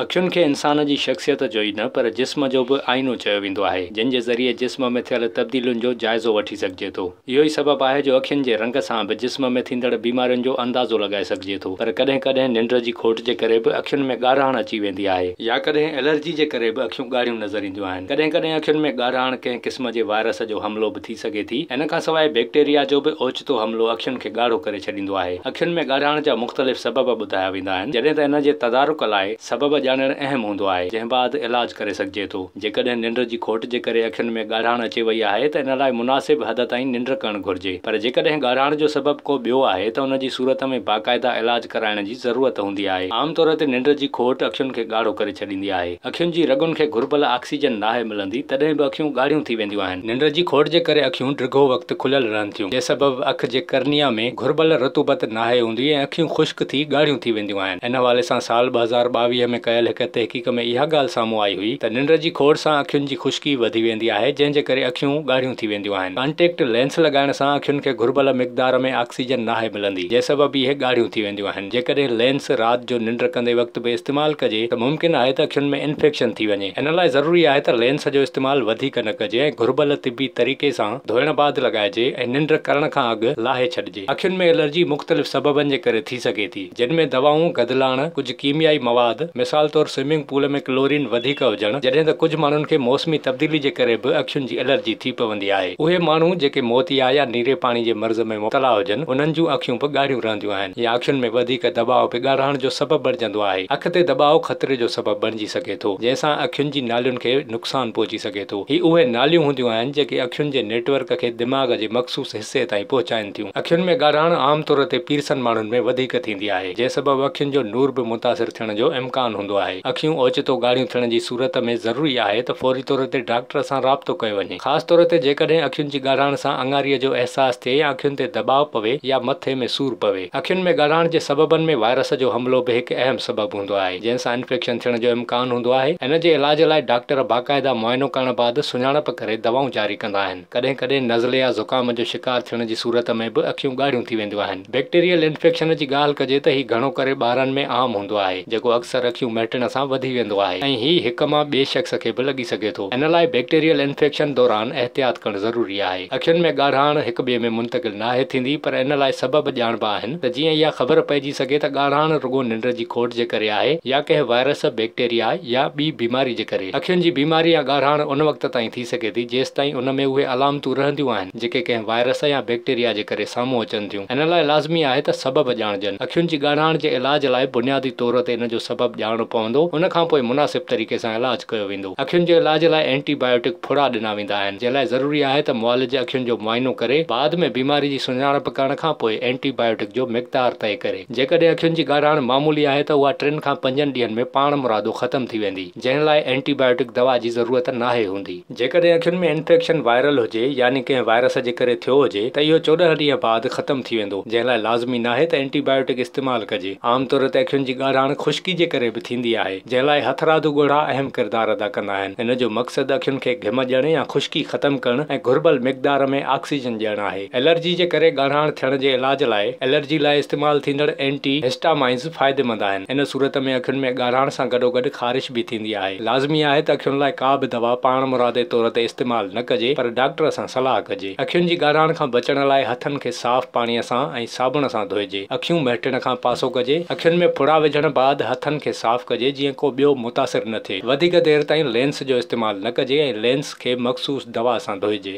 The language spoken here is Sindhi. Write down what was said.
اکين کي انسان جي شخصيت جو ئي نه پر جسم جو به آئينو چيو ويندو آهي، جن جي ذريعي جسم ۾ ٿيل تبديلين جو جائزو وٺي سگهجي ٿو. اهو ئي سبب آهي جو اکين جي رنگ سان به جسم ۾ ٿيندڙ بيمارين جو اندازو لڳائي سگهجي ٿو پر ڪڏهن ڪڏهن ننڊ جي کوٽ جي ڪري به اکين ۾ ڳاڙهاڻ اچي ويندي آهي يا ڪڏهن الرجي جي ڪري به اکيون ڳاڙهيون نظر اينديون آهن ڪڏهن ڪڏهن اکين ۾ ڳاڙهاڻ ڪنهن قسم جي وائرس جو حملو به ٿي سگهي ٿي. ان کان سواء بيڪٽيريا جو به اوچتو حملو اکين کي ڳاڙهو ڪري ڇڏيندو آهي. اکين ۾ ڳاڙهاڻ جا مختلف سبب ٻڌايا ويندا آهن، جڏهن ته ان جي تدارڪ لاء سبب ڄاڻڻ اهم هوندو آهي، جنهن بعد علاج ڪري سگهجي ٿو. جيڪڏهن ننڊ جي کوٽ جي ڪري اکين ۾ ڳاڙهاڻ اچي وئي آهي ته ان لاء مناسب حد تائين ننڊ ڪرڻ گهرجي، پر جيڪڏهن ڳاڙهاڻ جو سبب ڪو ٻيو آهي ته ان جي صورت ۾ باقاعده علاج ڪرائڻ جي ضرورت هوندي آهي. عام طور تي ننڊ جي کوٽ اکين کي ڳاڙهو ڪري ڇڏيندي آهي. اکين جي رڳن کي گهربل آڪسيجن ناهي ملندي تڏهن به اکيون ڳاڙهيون ٿي وينديون آهن. ننڊ جي کوٽ جي ڪري اکيون ڊگهو وقت کليل رهن ٿيون جنهن سبب اک جي ڪرنيا ۾ گهربل رطوبت ناهي هوندي ۽ اکيون خشڪ ٿي ڳاڙهيون ٿي وينديون آهن. ان حوالي سان سال ٻه هزار ٻاويهه ۾ ڪيل هڪ تحقيق ۾ اها ڳالهه سامهون آئي هئي ته ننڊ جي کوٽ سان اکين جي خشڪي وڌي ويندي آهي جنهن جي ڪري اکيون ڳاڙهيون ٿي وينديون آهن. ڪانٽيڪٽ لينس لڳائڻ سان اکين کي گهربل مقدار ۾ آڪسيجن ناهي ملندي. جنهن سبب اهي ڳاڙهيون ٿي وينديون آهن. جيڪڏهن لينس رات جو ننڊ ڪندي وقت به استعمال ڪجي ته ممڪن آهي ته اکين ۾ انفيڪشن ٿي وڃي. ان لاء ضروري آهي ته لينس جو استعمال وڌيڪ نه ڪجي ۽ گهربل طبي طريقي سان ڌوئڻ بعد لڳائجي ۽ ننڊ ڪرڻ کان اڳ لاهي ڇڏجي. اکين ۾ الرجي مختلف سببن جي ڪري ٿي سگهي ٿي، جن ۾ دوائون، گدلاڻ، ڪجهه ڪيميائي مواد، مثال طور سوئمنگ پول ۾ ڪلورين وڌيڪ هجڻ، جڏهن ته ڪجهه ماڻهن کي موسمي تبديلي جي ڪري به اکين جي الرجي ٿي پوندي آهي. اهي ماڻهو جيڪي موتيا يا نيري پاڻي جي مرض ۾. ۾ مبتلا هجن، انهن جون اکيون به ڳاڙهيون رهنديون آهن يا اکين ۾ وڌيڪ دٻاء به ڳاڙهائڻ جو سبب بڻجندو آهي. اک تي دٻاء خطري جو سبب بڻجي سگهي ٿو، جنهن سان اکين جي نالين کي نقصان پهچي سگهي ٿو. هي اهي ناليون هونديون آهن، جيڪي اکين جي نيٽ ورڪ کي دماغ جي مخصوص حصي تائين پهچائين ٿيون. اکين ۾ ڳاڙهائڻ عام طور تي پيرسن ماڻهن ۾ وڌيڪ ٿيندي آهي، جنهن سبب اکين جو نور به متاثر ٿيڻ جو امڪان هوندو آهي. اکيون اوچتو ڳاڙهيون ٿيڻ جي صورت ۾ ضروري آهي ته فوري طور تي ڊاڪٽر سان رابطو ڪيو وڃي. خاص طور تي جيڪڏهن اکين جي ڳاڙهاڻ سان اڱاريء جو احساس ٿئي يا اکين تي دٻاء پوي يا مٿي ۾ سور پوي. اکين ۾ ڳاڙهاڻ جي سببن ۾ وائرس جو حملو به هڪ اهم سبب هوندو آهي، جنهن سان انفيڪشن ٿيڻ جو امڪان هوندو آهي. ان جي علاج لاء ڊاڪٽر باقاعده معائنو ڪرڻ بعد سڃاڻپ ڪري دوائون جاري ڪندا آهن. ڪڏهن ڪڏهن نزلي يا زڪام جو شڪار ٿيڻ جي صورت ۾ به اکيون ڳاڙهيون ٿي وينديون آهن. بيڪٽيريل انفيڪشن جي ڳالهه ڪجي ته هي گهڻو ڪري ٻارن ۾ عام هوندو آهي، جيڪو اڪثر اکيون مهٽڻ سان وڌي ويندو آهي ۽ هي هڪ مان ٻئي شخص کي به لڳي سگهي ٿو. ان لاء بيڪٽيريل انفيڪشن دوران احتياط ڪرڻ ضروري آهي. اکين ۾ ڳاڙهاڻ هڪ ٻئي ۾ منتقل ناهي ٿيندي پر ان لاء سبب ڄاڻبا آهن ته جيئن اها خبر پئجي سگهي ته ڳاڙهاڻ رڳو ننڊ جي کوٽ جي ڪري آهي يا ڪنهن وائرس، بيڪٽيريا يا ٻي بيماري جي ڪري. اکين جي بيماري يا ڳاڙهاڻ ان وقت تائين ٿي سگهي ٿي جيستائين ان ۾ اهي علامتون رهنديون آهن. جيڪي ڪنهن وائرس يا بيڪٽيريا جي ڪري سامهون اچن ٿيون. ان لاء لازمي آهي ته سبب ڄاڻجن. اکين جي ڳاڙهاڻ جي علاج لاء بنيادي طور تي ان جو سبب ڄاڻڻو پوندو، ان کان پوء مناسب طريقي سان علاج ڪيو ويندو. اکين جي علاج لاء اينٽي بايوٽڪ ڦڙا ڏنا ويندا آهن، جنهن لاء ضروري آهي ته معالج اکين جو معائنو ڪري، بعد ۾ بيماري جي سڃاڻپ ڪرڻ کان پوء اينٽي بايوٽڪ جو مقدار طئي ڪري. جيڪڏهن اکين جي ڳاڙهاڻ معمولي آهي ته اها ٽن کان پنجن ڏينهن ۾ پاڻمرادو ختم ٿي ويندي، جنهن لاء اينٽي بايوٽڪ دوا جي ضرورت ناهي هوندي. جيڪڏهن اکين ۾ انفيڪشن وائرل هجي يعني ڪنهن وائرس جي ڪري ٿيو هجي ته اهو چوڏهن ڏينهن بعد ختم ٿي ويندو جنهن لاء لازمي ناهي ته اينٽي بائيوٽڪ استعمال ڪجي. عام طور تي اکين جي ڳاڙهاڻ خشڪي جي ڪري به ٿيندي آهي جنهن لاء هٿراڌو ڳوڙها اهم ڪردار ادا ڪندا آهن. هن جو مقصد اکين کي گهم ڏيڻ يا خشڪي ختم ڪرڻ ۽ گهربل مقدار ۾ آڪسيجن ڏيڻ آهي. الرجي جي ڪري ڳاڙهاڻ ٿيڻ جي علاج لاء الرجي لاء استعمال ٿيندڙ اينٽي هسٽامائنز فائديمند آهن. ان صورت ۾ اکين ۾ ڳاڙهاڻ سان گڏوگڏ خارش به ٿيندي آهي. لازمي آهي ته اکين لاء ڪا به دوا پاڻمرادي طور تي استعمال نه ڪجي پر ڊاڪٽر سان صلاح ڪجي. اکين جي ڳاڙهاڻ کان بچڻ لاء هٿن کي صاف پاڻي سان ۽ صابڻ سان ڌوئجي. اکيون مهٽڻ کان پاسو ڪجي. اکين ۾ ڦڙا وجهڻ بعد هٿن کي صاف ڪجي جيئن ڪو ٻيو متاثر نه ٿئي. وڌيڪ دير تائين لينس جو استعمال نه ڪجي ۽ لينس. کي مخصوص دوا سان ڌوئجي.